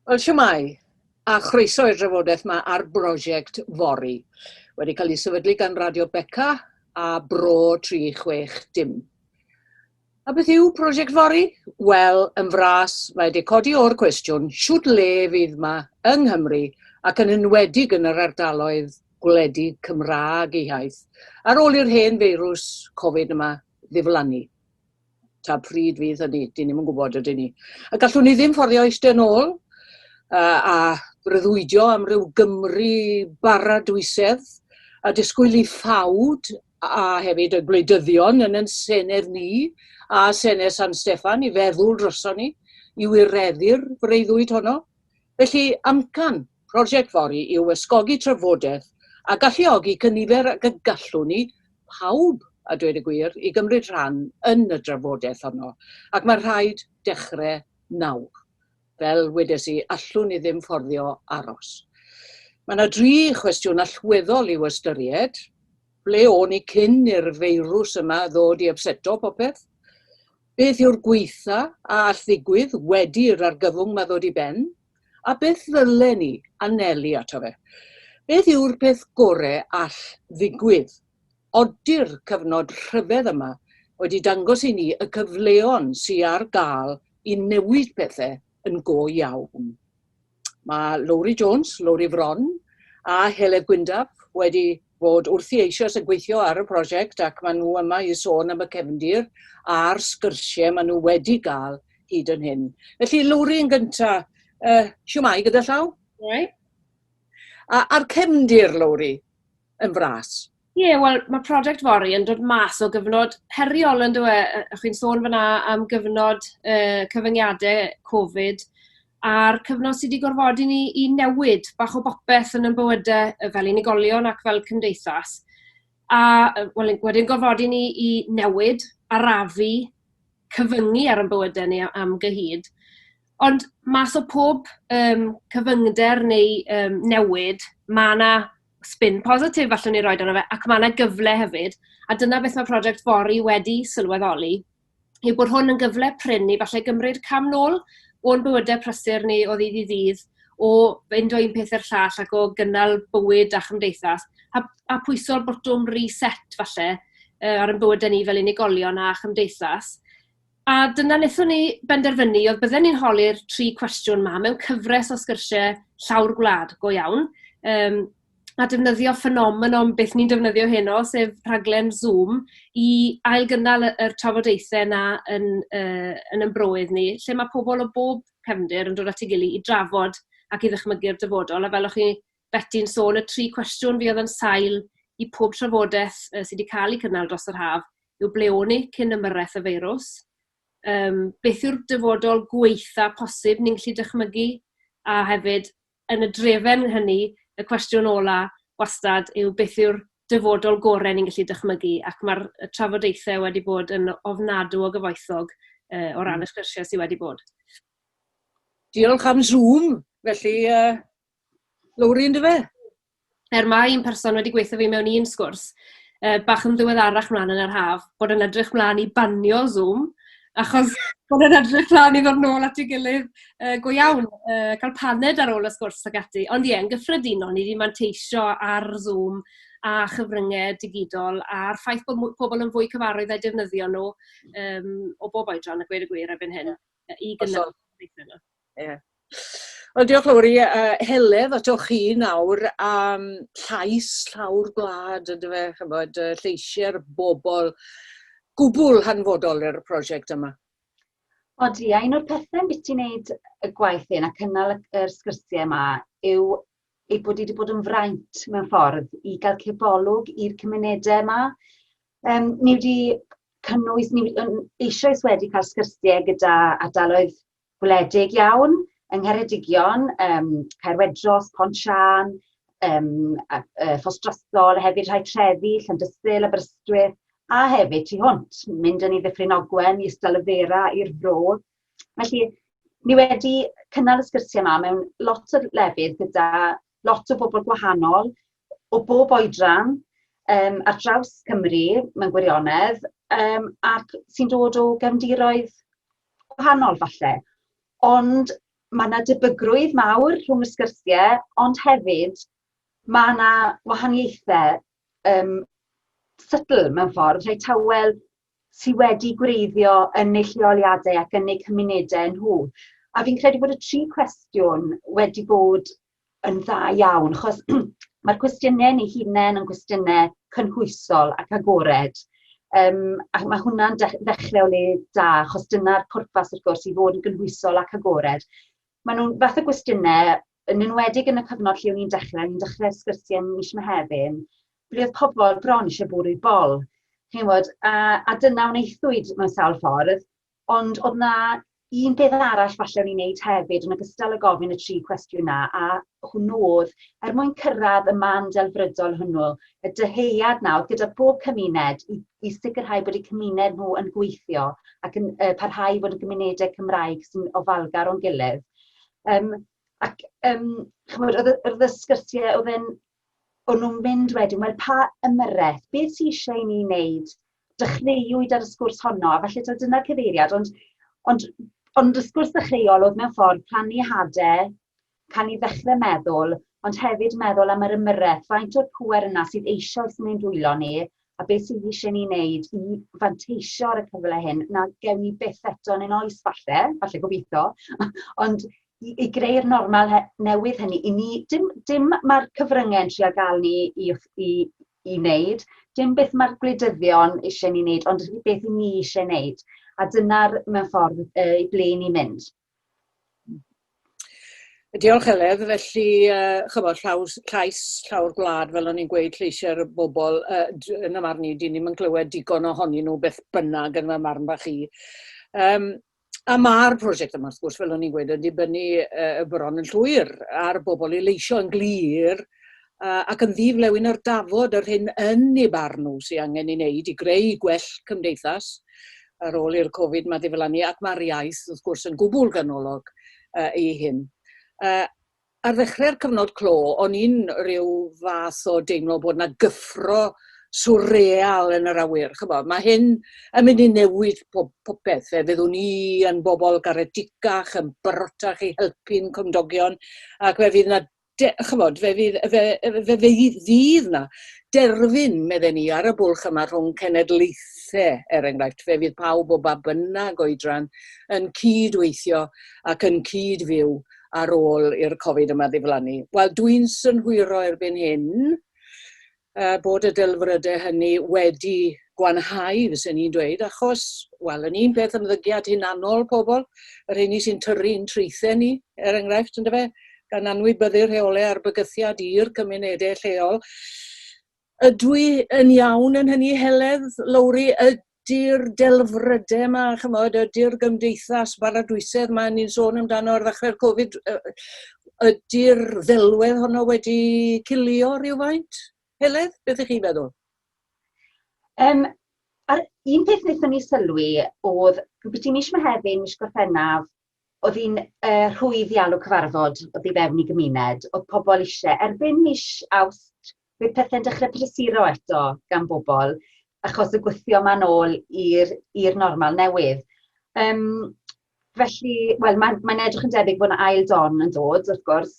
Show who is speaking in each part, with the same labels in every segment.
Speaker 1: Wel, siwmai, a chroeso i'r drafodaeth yma ar brosiect Fori, wedi cael ei sefydlu gan Radio Beca a Bro 360. A beth yw prosiect fory? Wel, yn fras, mae wedi codi o'r cwestiwn shwt le fydd ma yng Nghymru ac yn enwedig yn yr ardaloedd gwledig Cymraeg eu hiaith ar ôl i'r hen feirws Covid yma ddiflannu. Ta pryd fydd hynny? Dyn ni'm yn gwybod, ydyn ni. A gallwn ni ddim fforddio eistedd yn ôl a breuddwydio am ryw Gymru baradwysedd a disgwyl i ffawd a hefyd y gwleidyddion yn yn Senedd ni a Senedd San Steffan i feddwl droson ni i wireddu'r freuddwyd honno. Felly, amcan prosiect Fori yw ysgogi trafodaeth a galluogi cynifer ag y gallwn ni, pawb a dweud y gwir, i gymryd rhan yn y drafodaeth honno, ac mae rhaid dechrau nawr. Fel wedes i, allwn i ddim fforddio aros. Mae yna dri chwestiwn allweddol i'w ystyried. Ble o'n i cyn i'r feirws yma ddod i ypseto popeth? Beth yw'r gwaetha a all ddigwydd wedi i'r argyfwng 'ma ddod i ben? A beth ddylen i anelu ato fe? Beth yw'r peth gore all ddigwydd? Odi'r cyfnod rhyfedd yma wedi dangos i ni y cyfleon sy ar gael i newid pethe yn go iawn? Mae Lowri Jones, Lowri Fron a Heledd Gwyndaf wedi bod wrthi eisioes yn gweithio ar y prosiect ac maen nhw yma i sôn am y cefndir a'r sgyrsie maen nhw wedi gael hyd yn hyn. Felly Lowri yn gynta, uh, siwmai gyda llaw? Siwmai. A, a'r cefndir, Lowri? yn fras. Ie, wel, mae prosiect fory yn dod mas o gyfnod heriol, yn dweud, e? O'ch chi'n sôn fyna am gyfnod uh, cyfyngiadau Covid, a'r cyfnod sydd wedi gorfodi ni i newid bach o bopeth yn ein bywydau fel unigolion ac fel cymdeithas. A wel, wedyn gorfodi ni i newid, arafu, cyfyngu ar ein bywydau ni am gyhyd. Ond mas o pob um, cyfyngder neu um, newid, mae yna spin positif allwn ni roid arno fe, ac mae 'na gyfle hefyd, a dyna beth mae Project Fory wedi sylweddoli, yw bod hwn yn gyfle prin i falle gymryd cam nôl o'n bywydau prysur ni o ddydd i ddydd, o fynd o un peth i'r llall ac o gynnal bywyd a chymdeithas, a, a pwyso'r botwm reset falle ar ein bywydau ni fel unigolion a chymdeithas. A dyna wnaethon ni benderfynu, oedd bydden ni'n holi'r tri cwestiwn 'ma mewn cyfres o sgyrsiau llawr gwlad go iawn, yym, a defnyddio ffenomenon beth ni'n defnyddio heno, sef rhaglen Zoom, i ailgynnal y yr trafodaethau 'na yn yy yn ein broedd ni, lle ma' pobl o bob cefndir yn dod at ei gilydd i drafod ac i ddychmygu'r dyfodol, a fel o'ch chi Beti'n sôn y tri cwestiwn fuodd yn sail i pob trafodaeth yy sy 'di ca'l 'i cynnal dros yr haf yw ble o'n ni cyn ymyrraeth y feirws? Yym beth yw'r dyfodol gwaetha' posib ni'n gallu dychmygu? A hefyd, yn y drefen hynny, y cwestiwn ola' wastad yw beth yw'r dyfodol gore' ni'n gallu dychmygu? Ac ma'r y trafodaethe wedi bod yn ofnadw o gyfoethog yy o ran y sgyrsie sy wedi bod. Diolch am Zoom felly yy Lowri yn dyfe? Er mae un person wedi gweithio fi mewn un sgwrs, uh, bach yn ddiweddarach mlaen yn yr haf, bod yn edrych mlaen i banio Zoom, achos bod yn edrych mlaen i ddod nôl at ei gilydd uh, go iawn, uh, cael paned ar ôl y sgwrs ac ati. Ond ie, yn gyffredinol, ni wedi manteisio ar Zoom a chyfryngau digidol a'r ffaith bod pobl yn fwy cyfarwydd â'i defnyddio nhw um, o bob oedran, a gweud y gwir erbyn hyn, i gynnal. Ie. Wel diolch Lowri, yy Heledd atoch chi nawr am llais llawr gwlad yndyfe ch'mod yy lleisie'r bobl gwbwl hanfodol i'r prosiect yma. Odi, a un o'r pethe ambiti ti wneud y gwaith hyn a cynnal y yr sgyrsie yma yw ei bod wedi bod yn fraint mewn ffordd i gael cebolwg i'r cymunedau yma. Um, ni wedi cynnwys, ni eisoes wedi cael sgyrsiau gyda ardaloedd gwledig iawn yng Ngheredigion, yym Caerwedros, Pont Siân, yym a yy Ffos Drostol, hefyd rhai trefi, Llandysul, Aberystwyth, a hefyd tu hwnt, mynd yn i Ddyffryn Ogwen, i Ystal y Fera, i'r Fro. Felly, ni wedi cynnal y sgyrsiau yma mewn lot o lefydd gyda lot o bobl gwahanol, o bob oedran, um, ar draws Cymru mewn gwirionedd, um, ac sy'n dod o gefndiroedd gwahanol falle. Ond mae yna debygrwydd mawr rhwng y sgyrsiau, ond hefyd mae yna wahaniaethau um, sydl mewn ffordd, rhai tawel sy wedi gwreiddio yn eu lleoliadau ac yn eu cymunedau nhw. A fi'n credu bod y tri cwestiwn wedi bod yn dda iawn, achos mae'r cwestiynau yn ei hunain yn gwestiynau cynhwysol ac agored. Um, a mae hwnna'n ddechrau o le da, achos dyna'r pwrpas wrth gwrs i fod yn gynhwysol ac agored. Maen nhw'n fath o gwestiynau yn enwedig yn y cyfnod lle o'n i'n dechrau, o'n i'n dechrau sgyrsiau mis Mehefin, ble oedd pobl bron eisiau bwrw bol. Chi'n bod, a, a dyna wnaethwyd mewn sawl ffordd, ond oedd na un peth arall falle o'n i'n neud hefyd, yn ogystal â gofyn y tri cwestiwn na, a hwnnw oedd, er mwyn cyrraedd y man delfrydol hwnnw, y dyheuad na oedd gyda pob cymuned i, i sicrhau bod eu cymuned nhw yn gweithio ac yn uh, parhau i fod yn gymunedau Cymraeg sy'n ofalgar o'n gilydd. Yym ac yym chimod o'dd y o'dd y sgyrsie o'dd e'n o'n nw'n mynd wedyn wel pa ymyrreth beth sy isie i ni neud dechreuwyd ar y sgwrs honno a falle t'od dyna'r cyfeiriad ond ond ond y sgwrs ddechreuol o'dd mewn ffordd plannu hade ca'l ni ddechre meddwl ond hefyd meddwl am yr ymyrreth faint o'r pŵer yna sydd eisoes yn ein dwylo ni A beth sydd eisiau ni wneud i fanteisio ar y cyfle hyn, na gewn ni byth eto yn ein oes falle, falle gobeithio, ond i, i greu'r normal newydd hynny, i ni, dim, dim mae'r cyfryngau yn trio gael ni i, i, i wneud, dim beth mae'r gwleidyddion eisiau ni wneud, ond beth i ni eisiau wneud. A dyna'r mewn ffordd y ble ni'n mynd. Diolch Heledd. Felly yy ch'mod llaw s- llais llawr gwlad fel o'n i'n gweud lleisiau'r bobl yy d- yn y marn i dyn ni'm yn clywed digon ohonyn nhw beth bynnag yn fy marn bach i. Yym a ma'r prosiect yma wrth gwrs fel o'n i'n gweud yn dibynnu yy bron yn llwyr ar bobl i leisio yn glir ac yn ddi-flewyn ar dafod yr hyn yn ei barn nhw sydd angen ei wneud i greu gwell cymdeithas ar ôl i'r Covid 'ma ddiflannu, ac mae'r iaith, wrth gwrs, yn gwbl ganolog i hyn. Ar ddechrau'r cyfnod clo, o'n i'n rhyw fath o deimlo bod 'na gyffro swreal yn yr awyr, ch'bo', mae hyn yn mynd i newid pob popeth, fe fyddwn ni yn bobl garedig-gach, yn barotach i helpu'n cymdogion, ac fe fydd 'na de, chymod, fe fydd, fe, fe, fe fydd na derfyn, medden ni, ar y bwlch yma rhwng cenedlaethau, er enghraifft, fe fydd pawb o ba bynnag oedran yn cyd-weithio ac yn cyd-fyw ar ôl i'r Covid yma ddiflannu. Wel, dwi'n synhwyro erbyn hyn, a bod y delfrydau hynny wedi gwanhau, fysen i'n dweud, achos, wel, yn un peth ymddygiad hunanol pobl, yr heini sy'n tyrru yn traethau ni, er enghraifft, ynddo fe, gan anwybyddu rheolau a'r bygythiad i'r cymunedau lleol. Ydw i yn iawn yn hynny, Heledd, Lowri? Ydw. 'di'r delfrydau 'ma, chimod, ydi'r gymdeithas baradwysedd 'ma ni'n sôn amdano ar ddechrau'r Covid, ydi'r ddelwedd honno wedi cilio rhywfaint? Heledd, beth ych chi'n feddwl? Um, a'r un peth wnaethon ni sylwi oedd byti mis Mehefin, mis Gorffennaf, Oedd hi'n yy rhwydd iawn o cyfarfod oddi fewn i gymuned, oedd pobl eisiau, erbyn mis Awst bydd pethe'n dechrau prysuro eto gan bobl achos y gwythio ma'n ôl i'r i'r normal newydd. Yym felly, wel mae'n mae'n edrych yn debyg bod 'na ail don yn dod wrth gwrs,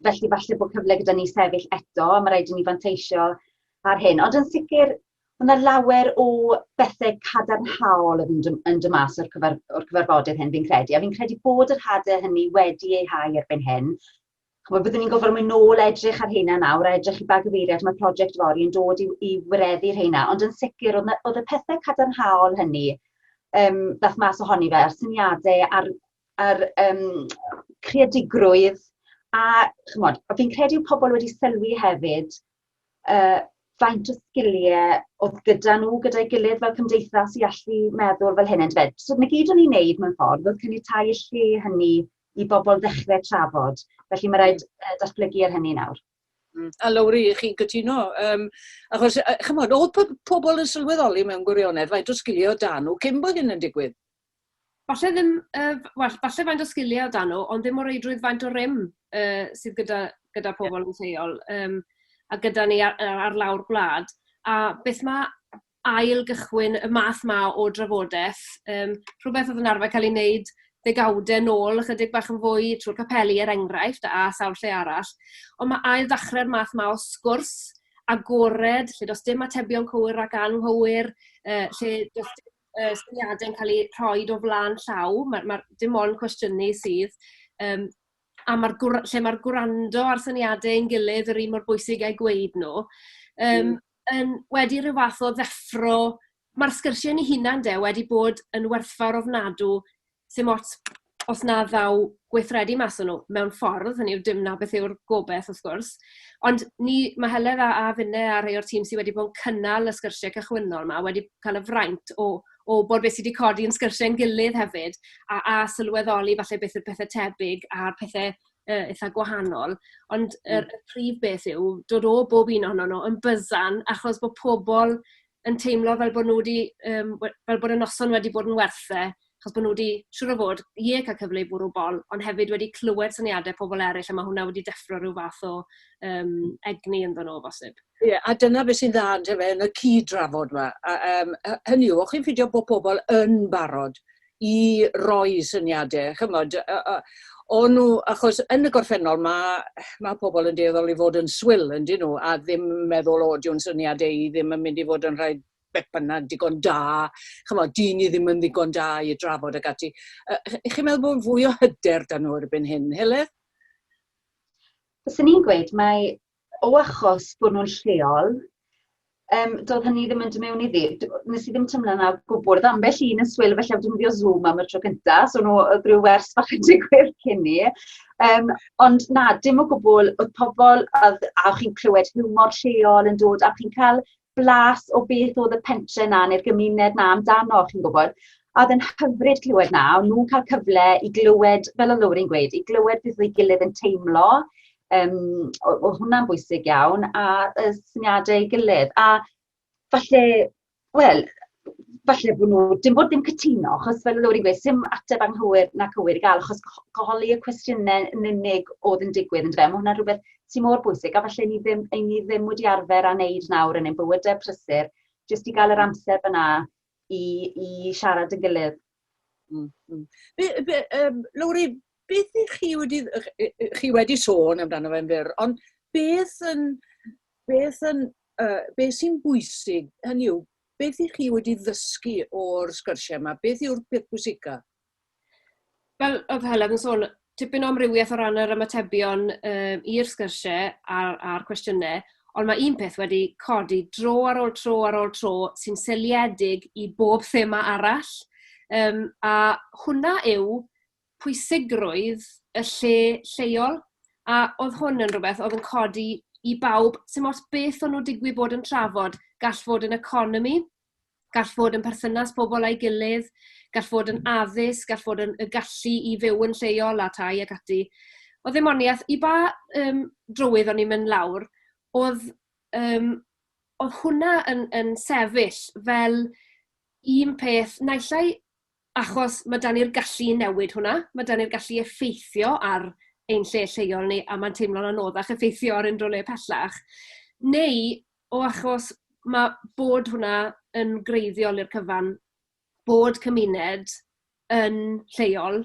Speaker 1: Felly falle bod cyfle gyda ni sefyll eto, mae rhaid i ni fanteisio ar hyn. Ond yn sicr, mae yna lawer o bethau cadarnhaol yn mynd yn dy mas o'r, cyfer, or cyfarfodydd hyn, fi'n credu. A fi'n credu bod yr hadau hynny wedi ei hau erbyn hyn. Chymod, byddwn ni'n gofod mynd nôl edrych ar hynna nawr, a edrych i ba gyfeiriad mae prosiect fori yn dod i, i wireddu'r hynna. Ond yn sicr, oedd, oedd y pethau cadarnhaol hynny, um, ddath mas ohoni fe, a'r syniadau a'r yr um, creadigrwydd, a chymod, fi'n credu pobl wedi sylwi hefyd uh, faint o sgiliau oedd gyda nhw, gyda'i gilydd fel cymdeithas i allu meddwl fel hyn. Fed. So, mae gyd o'n i'n neud mewn ffordd oedd cynnytau y lle hynny i bobl ddechrau trafod. Felly mae rhaid uh, datblygu ar hynny nawr. Mm. A Lowri, chi'n gytuno. Um, achos, chymod, oedd pobl yn sylweddoli mewn gwirionedd faint o sgilio dan nhw cyn bod hyn yn digwydd? falle ddim, yy, wel, falle faint o sgiliau o dan nhw, ond ddim o reidrwydd faint o rym uh, sydd gyda, gyda pobl yn lleol um, a gyda ni ar, ar lawr gwlad. A beth mae ail gychwyn y math ma o drafodaeth, um, rhywbeth oedd yn arfer cael ei wneud ddegawdau nôl, ychydig bach yn fwy trwy'r capeli er enghraifft, a sawl lle arall. Ond mae ail ddechrau'r math ma o sgwrs agored, lle does dim atebion cywir ac anghywir, uh, lle does dim y syniadau yn cael eu rhoi o flaen llaw, mae ma' dim ond cwestiynu sydd, yym, a ma'r gwr- lle mae'r gwrando a'r syniadau ein gilydd yr un mor bwysig a'u gweud nhw, yym, hmm. yn wedi rhyw fath o ddeffro, mae'r sgyrsiau ni hunan de wedi bod yn werthfawr ofnadw 'sdim ots os na ddaw gweithredu mas o nhw mewn ffordd, hynny yw, dim 'na beth yw'r gobaith wrth gwrs. Ond ni... mae Heledd a a finne a rhai o'r tîm sy wedi bod yn cynnal y sgyrsiau cychwynnol 'ma wedi cael y fraint o o wybod beth sy 'di codi yn sgyrsiau ein gilydd hefyd, a a sylweddoli falle beth yw'r pethe tebyg a'r pethe yy eitha gwahanol. Ond yr... y prif beth yw dod o bob un ohonon nhw yn byzzan achos bod pobl yn teimlo fel bod nhw 'di, yym, we- fel bod y noson wedi bod yn werth e, achos bod nhw 'di, siŵr o fod, ie, cael cyfle i fwrw bol, ond hefyd wedi clywed syniadau pobl eraill, a mae hwnna wedi deffro rhyw fath o um, egni ynddo nhw, bosib. Ie, yeah, a dyna beth sy'n dda yn, yn y cyd-drafod yma. A, um, hynny yw, o'ch chi'n ffidio bod pobl yn barod i roi syniadau, chymod, o'n nhw, achos yn y gorffennol mae, mae pobl yn dueddol i fod yn swil, yn dyn nhw, a ddim meddwl, o, diw'n syniadau i ddim yn mynd i fod yn rhai beth bynnag digon da, chymod, dyn ni ddim yn ddigon da i drafod ag ati. Ych chi'n meddwl bod fwy o hyder dan nhw erbyn hyn, Heledd? Fyswn i'n gweud mae o achos bod nhw'n lleol, um, doedd hynny ddim yn dymewn iddi. Nes i ddim tymlo yna gwbl. Oedd ambell un yn swyl, felly oedd defnyddio Zoom am y tro cyntaf, so nhw, oedd rhyw wers fach yn digwydd cyn ni. Um, ond na, dim o gwbl, oedd pobl, oedd, a chi'n clywed hiwmor lleol yn dod, a chi'n cael blas o beth oedd y pentre 'na neu'r gymuned 'na amdano, chi'n gwybod. A oedd e'n hyfryd clywed 'na, o'n nhw'n cael cyfle i glywed, fel o Lowri'n gweud, i glywed beth oedd ei gilydd yn teimlo, um, oedd hwnna'n bwysig iawn, a y syniadau ei gilydd. A falle, wel, falle bod nhw, dim bod dim cytuno, achos fel Lowri wedi sim ateb anghywir na cywir i gael, achos goholi y cwestiynau yn unig oedd yn digwydd, yn dweud, mae hwnna'n rhywbeth sy'n mor bwysig, a falle ni ddim, ein ni ddim wedi arfer â wneud nawr yn ein bywydau prysur, jyst i gael yr amser fyna i, i siarad yn gilydd. Mm, mm. Be, be, um, Lowri, beth ych chi wedi, chi wedi sôn amdano fe'n fyr, ond beth yn, beth yn, uh, beth sy'n bwysig, hynny yw, Beth ych chi wedi ddysgu o'r sgyrsiau yma? Beth yw'r peth pwysica? Fel oedd Heledd yn sôn, tipyn o amrywiaeth o ran yr ymatebion um, i'r sgyrsiau a'r, a'r cwestiynau, ond mae un peth wedi codi dro ar ôl tro ar ôl tro sy'n seliedig i bob thema arall. Um, a hwnna yw pwysigrwydd y lle lleol, a oedd hwn yn rhywbeth oedd yn codi i bawb, sy'n ots beth o'n nhw'n digwydd bod yn trafod, gall fod yn economi, gall fod yn perthynas pobl â'i gilydd, gall fod yn addysg, gall fod yn y gallu i fyw yn lleol a tai ac ati. Oedd ddim ond iaith, i ba um, drywydd o'n i'n mynd lawr, oedd, um, oedd hwnna yn, yn sefyll fel un peth, naillai Achos ma' 'da ni'r gallu i newid hwnna, ma' 'da ni'r gallu i effeithio ar ein lle lleol ni, a mae'n teimlo'n anoddach effeithio ar unrhyw le pellach. Neu o achos ma' bod hwnna yn greiddiol i'r cyfan, bod cymuned yn lleol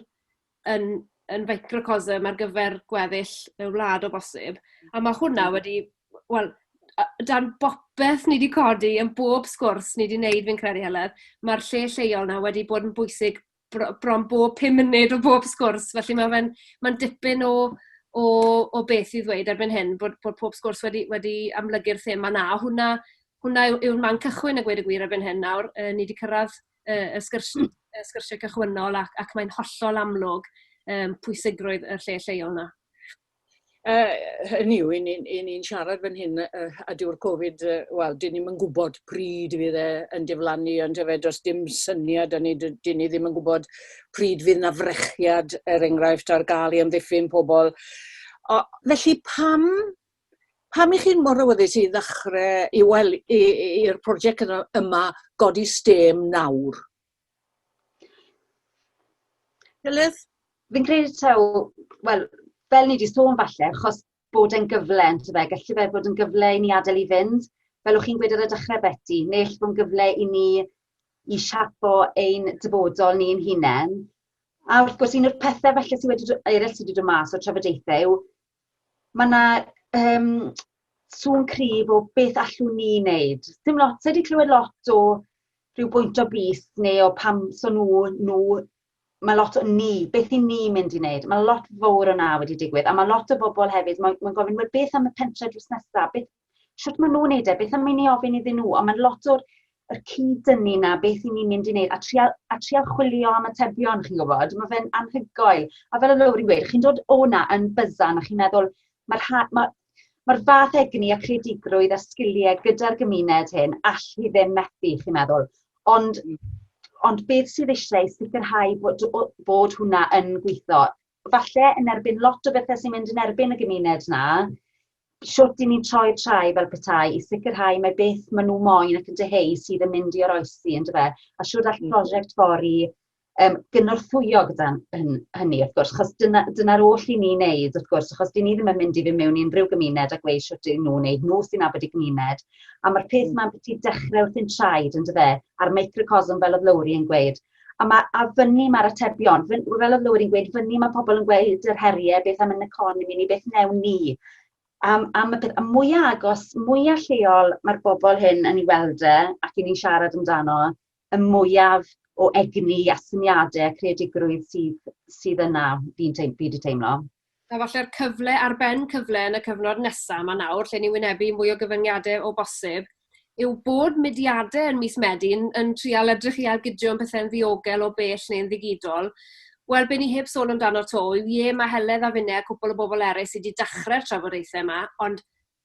Speaker 1: yn yn feicrocosm ar gyfer gweddill y wlad o bosib. A ma' hwnna wedi wel a- dan bopeth ni 'di codi yn bob sgwrs ni 'di neud fi'n credu Heledd ma'r lle lleol 'na wedi bod yn bwysig bro- bron bob pum munud o bob sgwrs felly ma' fe'n ma'n dipyn o o o beth i ddweud erbyn hyn bod bod pob sgwrs wedi wedi amlygu'r thema 'na a hwnna hwnna yw yw'r man cychwyn a gweud y gwir erbyn hyn nawr yy ni 'di cyrradd y y sgyrs- y sgyrsie cychwynnol ac ac mae'n hollol amlwg yym pwysigrwydd y lle lleol 'na. Yy hynny yw 'yn ni'n 'yn ni'n siarad fan hyn yy yy a dyw'r Covid yy wel 'dyn ni'm yn gwbod pryd fydd e yn diflannu on'd yfe? Does dim syniad 'da ni 'dy- 'dyn ni ddim yn gwbod pryd fydd 'na frechiad er enghraifft ar ga'l i amddiffyn pobol. O- felly pam Pam 'y chi'n mor awyddus i ddechre, i wel, i, i, i'r prosiect yna- yma godi stêm nawr? Ellis? Fi'n credu taw, wel, fel ni 'di sôn falle, achos bod e'n gyfle ynto fe, gallu fe fod yn gyfle i ni adael i fynd, fel o'ch chi'n gweud ar y dechre Beti, ne' ell bo'n gyfle i ni i siapo ein dyfodol ni'n hunen. A wrth gwrs un o'r pethe falle sy wedi do- eryll sy 'di do' mas o'r trafodaethe yw ma' 'na yym sŵn cryf o beth allwn ni neud. Dim lot, sai 'di clywed lot o rhyw bwynt o bys neu o pam so nw nw ma' lot o ni, beth 'yn ni mynd i neud? Ma' lot fowr o 'na wedi digwydd a ma' lot o bobol hefyd moyn ma'n gofyn wel beth am y pentre drws nesa beth shwt maen nhw'n neud e, beth am i ni ofyn iddyn nhw, ond mae'n lot o'r yr cyd-dynnu na beth i ni'n mynd i wneud, a trial, a trial chwilio am atebion, chi'n gwybod, mae fe'n anhygoel. A fel y lowr i'n gweud, chi'n dod o'na yn byzan a chi'n meddwl, mae'r ma, ma, ma fath egni a creadigrwydd a sgiliau gyda'r gymuned hyn, all hi ddim methu, chi'n meddwl. Ond, ond beth sydd eisiau sicrhau bod, bod hwnna yn gweithio? falle yn erbyn lot o bethe sy'n mynd yn erbyn y gymuned 'na, shwt 'yn ni'n troi trai fel petai i sicrhau mai beth ma' nw moyn ac yn dyheu sydd yn mynd i oroesi on'd yfe? A shwd all prosiect Fori yym gynorthwyo gyda hyn- hynny wrth gwrs 'chos dyna dyna'r oll 'yn ni'n neud wrth gwrs achos 'dyn ni ddim yn mynd i fyn' mewn i unryw gymuned a gweu' shwt yw nw'n neud nw sy'n nabod eu gymuned a ma'r peth 'ma ambyti dechre wrthi'n traed on'd yfe? A'r microcosm fel o'dd Lowri yn gweud A, ma, a fyny mae'r atebion, fy, fel oedd Lywyd yn gweud, fyny mae pobl yn gweud yr heriau, beth am yn economi ni, beth newn ni. Am, am y peth, a mwyaf agos, mwyaf lleol mae'r bobl hyn yn ei weld e, ac i ni'n siarad amdano, y mwyaf o egni a syniadau a creadigrwydd sydd, sydd yna, fi'n teim, fi wedi teimlo. A falle'r cyfle ar ben cyfle yn y cyfnod nesa' 'ma nawr, lle ni'n wynebu mwy o gyfyngiade o bosib, yw bod mudiade yn mis Medi yn yn trial edrych i ailgydio yn pethe'n ddiogel o bell neu'n ddigidol. Wel, be' ni heb sôn amdano 'to yw, ie, ma' Heledd a finne a cwpwl o bobl eryll sy' 'di dachre'r trafodaethe 'ma, ond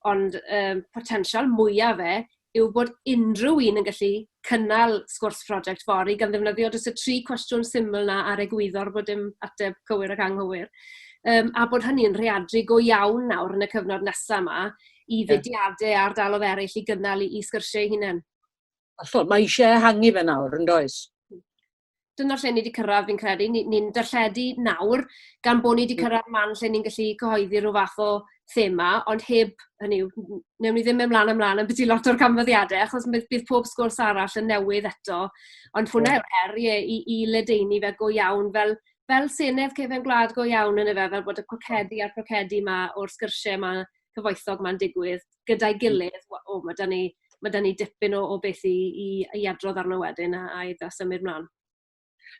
Speaker 1: Ond yym potensial mwya fe yw bod unrhyw un yn gallu cynnal sgwrs prosiect fory gan ddefnyddio jyst y tri cwestiwn syml 'na a'r egwyddor bod dim ateb cywir ac anghywir. Yym a bod hynny'n rheadru go iawn nawr yn y cyfnod nesa 'ma i fudiade a ardalodd eryll i gynnal 'u sgyrsie 'u hunen. Hollol, mae eisiau ehangu fe nawr yndoes? dyna lle ni wedi cyrraedd fi'n credu, ni'n ni, ni darlledu nawr gan bod ni wedi cyrraedd man lle ni'n gallu cyhoeddi rhyw fath o thema, ond heb, hynny yw, newn ni ddim mynd mlaen ymlaen am byti lot o'r canfyddiadau, achos bydd, bydd pob sgwrs arall yn newydd eto, ond hwnna yw'r her ie, i, i ledeini fe go iawn fel, fel senedd cefn gwlad go iawn yn y fe, fel bod y cwcedi a'r crocedi yma o'r sgyrsiau yma cyfoethog 'ma'n digwydd gyda'i gilydd w- o ma' 'dan ni ma' 'dan ni dipyn o o beth i i i adrodd arno wedyn a a i da- symud mlan.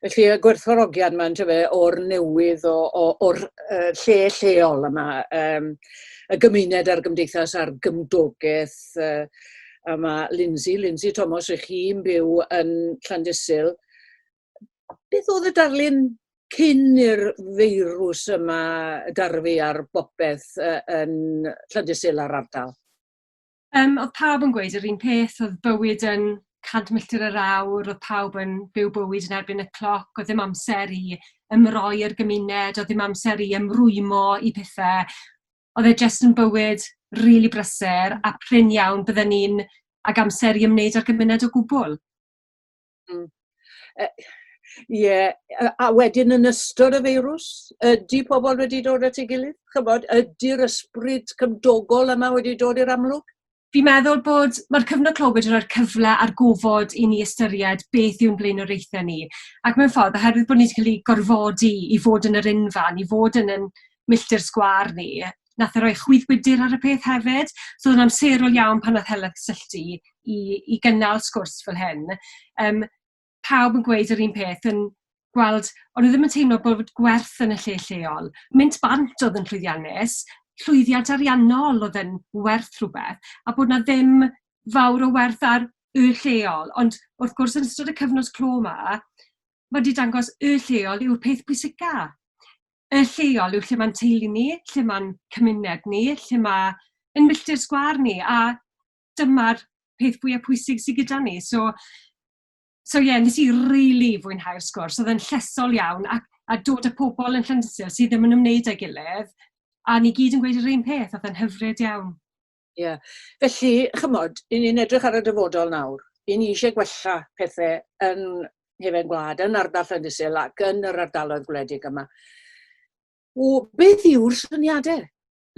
Speaker 1: Felly y gwerthfawrogiad 'ma yntyfe o'r newydd o o o'r yy lle lleol yma yym y gymuned a'r gymdeithas a'r gymdogaeth yy a ma' Lindsay Lindsay Tomos rych chi'n byw yn Llandysul beth oedd y darlun cyn i'r feirws yma darfu ar bopeth uh, yn Llandysul a'r ardal? Um, oedd pawb yn gweud yr un peth, oedd bywyd yn 100 milltir yr awr, oedd pawb yn byw bywyd yn erbyn y cloc, oedd ddim amser i ymroi i'r gymuned, oedd ddim amser i ymrwymo i pethau. Oedd e jyst yn bywyd rili really brysur a prin iawn bydden ni'n ag amser i ymwneud â'r gymuned o gwbl. Hmm. Yy ie, yy a wedyn yn ystod y feirws, ydy pobl wedi dod at ei gilydd? Chybod, ydy'r ysbryd cymdogol yma wedi dod i'r amlwg? Fi'n meddwl bod mae'r cyfnod clo wedi rhoi'r cyfle a'r gofod i ni ystyried beth yw'n blaenoriaethau ni. Ac mewn ffordd, oherwydd bod ni wedi cael ei gorfodi i fod yn yr unfan, i fod yn ein milltir sgwâr ni, wnaeth e roi chwyddwydr ar y peth hefyd. So oedd o'n amserol iawn pan wnaeth Helen cysylltu i i gynnal sgwrs fel hyn. Yym, pawb yn gweud yr un peth, yn gweld... o'n nhw ddim yn teimlo bod gwerth yn y lle lleol. Mynd bant oedd yn llwyddiannus, llwyddiant ariannol oedd yn werth rhywbeth, a bod 'na ddim fawr o werth ar y lleol. Ond wrth gwrs, yn ystod y cyfnod clo 'ma, ma' 'di dangos y lleol yw'r peth pwysica. y lleol yw lle mae'n teulu ni, lle mae'n cymuned ni, lle mae ein milltir sgwâr ni, a dyma'r peth fwya pwysig sy gyda ni. So so ie, wnes i rili fwynhau'r sgwrs, oedd e'n llesol iawn, ac a dod â pobl yn Llandyssil sydd ddim yn ymwneud â'i gilydd, a ni gyd yn gweud yr un peth, oedd e'n hyfryd iawn. Ie. Felly, chymod, 'yn ni'n edrych ar y dyfodol nawr. 'Yn ni eisiau gwella pethe yn Hefen Gwlad, yn ardal Llandysul ac yn yr ardaloedd gwledig yma. O, beth yw'r syniade,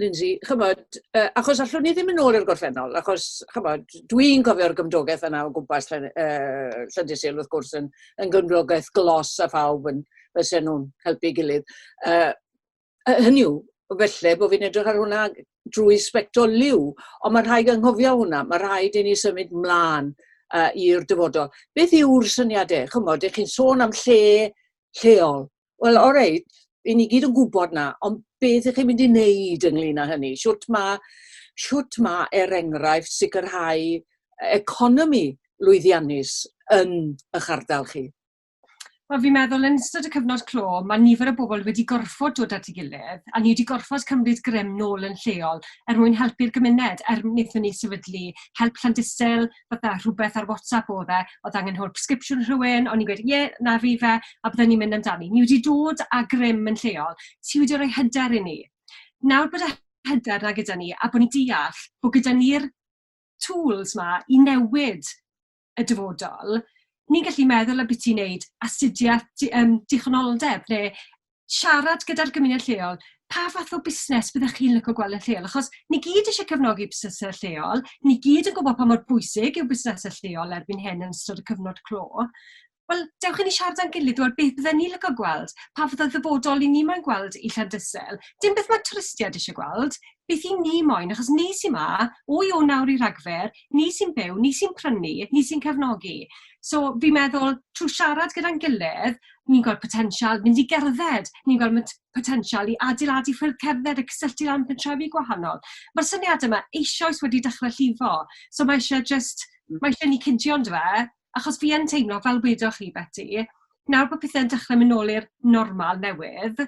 Speaker 1: Lindsay? Chymod, uh, achos allwn ni ddim yn ôl i'r gorffennol, achos, chymod, dwi'n cofio'r gymdogaeth yna o gwmpas Llan, uh, Llandysul, wrth gwrs, yn, yn gymdogaeth glos a phawb yn fysen nhw'n helpu gilydd. Uh, uh, hynny yw, felly bod fi'n edrych ar hwnna drwy sbectol liw, ond mae'n rhaid anghofio hwnna, mae rhaid i ni symud mlaen uh, i'r dyfodol. Beth yw'r syniadau? Chymod, ych chi'n sôn am lle lleol. Wel, o reit, i ni gyd yn gwybod na, ond beth ych chi'n mynd i wneud ynglyn â hynny? Siwt mae, siwt mae er enghraifft sicrhau economi lwyddiannus yn eich ardal chi? Wel, fi'n meddwl yn ystod y cyfnod clo, mae nifer o bobl wedi gorfod dod at ei gilydd, a ni wedi gorfod cymryd grym nôl yn lleol er mwyn helpu'r gymuned, er wnaethon ni sefydlu help Llandysul, fatha rhywbeth ar WhatsApp oedd e, oedd angen help prescription rhywun, o'n i'n gweud, ie, na fi fe, a byddwn ni'n mynd amdani. Ni wedi dod â grym yn lleol, ti wedi rhoi hyder i ni. Nawr bod y hyder yna gyda ni, a bod ni'n deall bod gyda ni'r tools 'ma i newid y dyfodol, ni'n gallu meddwl ambiti wneud astudiaeth di- yym dichonoldeb neu siarad gyda'r gymuned lleol, pa fath o busnes fyddech chi'n licio gweld yn lleol? Achos ni gyd isie cefnogi busnesau lleol, ni gyd yn gwybod pa mor bwysig yw busnesau lleol erbyn hyn yn ystod y cyfnod clo. Wel, dewch i ni siarad â'n gilydd, wel beth fydden ni'n licio gweld, pa fath o ddyfodol 'yn ni moyn gweld i Llandysel. Dim beth mae twristiaid isie gweld, beth 'yn ni moyn, achos ni sy 'ma, o Ionawr nawr i Ragfyr, ni sy'n byw, ni sy'n prynu, ni sy'n cefnogi. So, fi'n meddwl, trwy siarad gyda'n gilydd, ni'n gweld potensial mynd i gerdded, ni'n gweld mot- potensial i adeiladu ffyrdd cerdded a cysylltu lan pentrefi gwahanol. Mae'r syniadau 'ma eisoes wedi dechrau llifo, so mae isie jyst... mae isie i ni cydio ondife? achos fi yn teimlo, fel wedoch chi Beti, nawr bod pethe'n dechrau mynd nôl i'r normal newydd,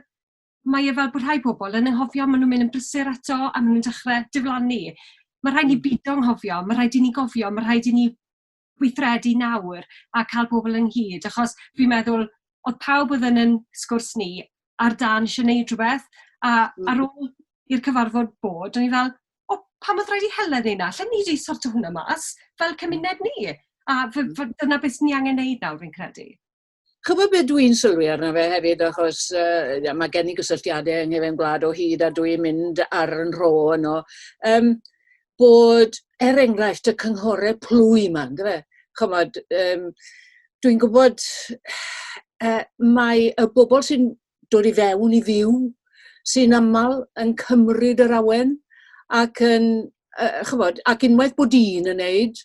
Speaker 1: mae e fel bod rhai pobl yn anghofio, maen nhw'n mynd yn brysur eto a maen nhw'n dechrau diflannu. Mae rhaid ni beidio anghofio, mae rhaid i ni gofio, mae rhaid i ni weithredu nawr a cael pobl ynghyd, achos fi'n meddwl, oedd pawb oedd yn ein sgwrs ni ar dân eisiau wneud rhywbeth, a ar ôl i'r cyfarfod bod, o'n i fel, o, pam oedd rhaid i Helen wneud 'na? Allen ni jyst sortio hwnna mas fel cymuned ni. A f- mm. f- dyna beth ni angen wneud nawr, fi'n credu. Chybod beth dwi'n sylwi arno fe hefyd, achos uh, mae gen i gysylltiadau yng Nghyfeim Gwlad o hyd a dwi'n mynd ar yn rho yno, um, bod er enghraifft y cynghorau plwy yma, ynddo fe? Chymod, um, dwi'n gwybod uh, mae y bobl sy'n dod i fewn i fyw, sy'n aml yn cymryd yr awen ac yn yy ch'mod ac unwaith bod un yn neud